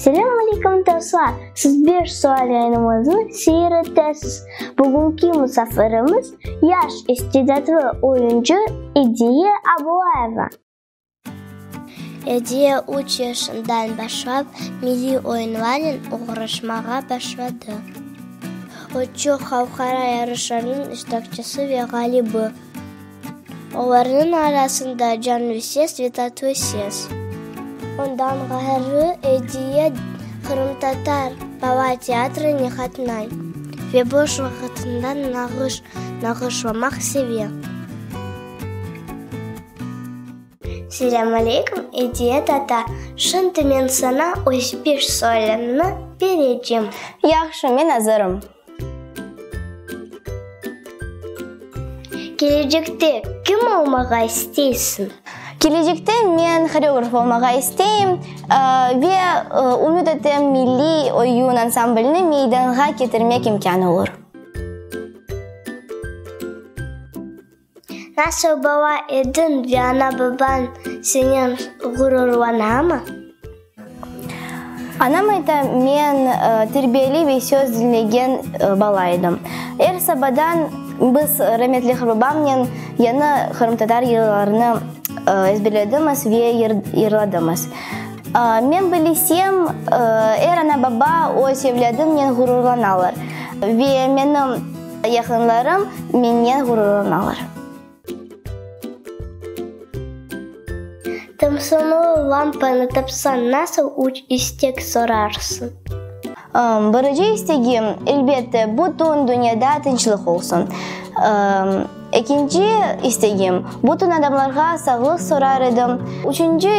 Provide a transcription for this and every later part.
Selâm aleykum dostlar! Siz beş sual yayınımıznı seyir etesiz. Bugünki musafirimiz, yaş istedadlı oyuncı Ediye Abulayeva. Ediye üç yaşından başlap milliy oyunlarnen oğraşmağa başladı. O, çoq halqara yarışlarnıñ iştirakçisi ve ğalibi. Olarnıñ arasında canlüse svetatvoy ses. Ondan ğayrı Ediye qırımtatar baba teatrına qatnay ve boş vaqıtında nağış nağışlamaq seve. Selâm aleyküm, Ediye tata! Şimdi men saña öz bir sualımnı berecem. Yahşı, men azırım. Kelecekte kim olmağa isteysiñ? Kelecekte men horeograf olmağa isteyim ve ümüt etem milliy oyun ansamblini meydanğa ketirmek imkânı olur. Nasıl bala ediñ ve ana-babañ senen ğururlanamı? Anam ayta, men terbiyeli ve söz diñlegen bala edim. Er sabadan biz rametli qırbabamnen yañı qırımtatar yırlarını ezberledimiz ve yırladımız. Men bilesem, er ana-baba öz evlâdınen ğururlanalar ve menim. Yaqınlarım mennen ğururlanalar. Tımsımlı lampanı tapsañ, nasıl üç istek sorarsıñ? Birinci istegim, elbette, bütün dünyada tınçlıq olsun. Ekinci istegim, bütün adamlarğa sağlıq sorar edim. Üçünci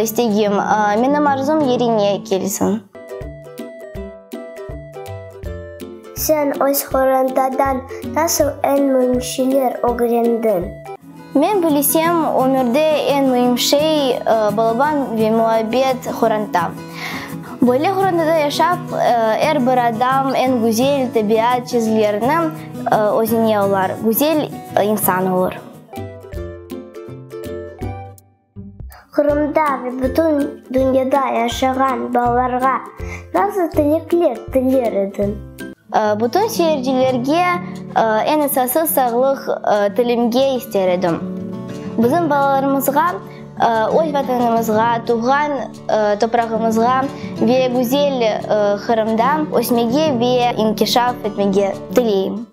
istegim, menim arzum yerine kelsin. Sen öz qorantadan nasıl eñ müim şeyler ögrendiñ? Men bilesem, ömürde eñ müim şey, balaban ve muabbet qoranta. Böyle qorantada yaşap, er bir adam eñ güzel tabiat çizgilerini özüne alar, güzel insan olur. Qırımda ve bütün dünyada yaşağan balalarğa nasıl tilekler tiler ediñ? Bütün seyircilerge eñ esası sağlıq tilemge ister edim. Bizim balalarımızğa öz Vatanımızğa, tuvğan toprağımızğa ve güzel Qırımda ösmege ve inkişaf etmege tileyim.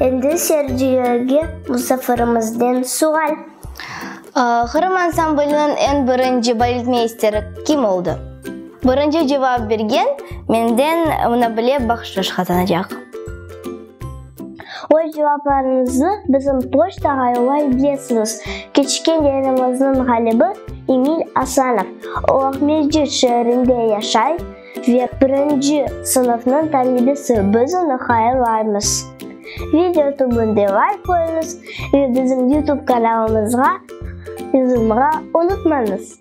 Endi Sergioge musafirımızden sual. Qırım ansambliniñ eñ birinci baletmeysteri kim oldı? Birinci cevap bergen menden munabile bahşış qazanacaq. Öz cevaplarıñıznı bizim poçtağa yollay bilesiñiz, Keçken Derenimizniñ ğalibi, Emil Asanov, Oğmescit şeerinde yaşay, ve birinci sınıfnıñ talebesi, biz onı hayırlaymız. Video tübünde layk qoyuñız ve bizim YouTube kanalımızğa yazılmağa unutmañız!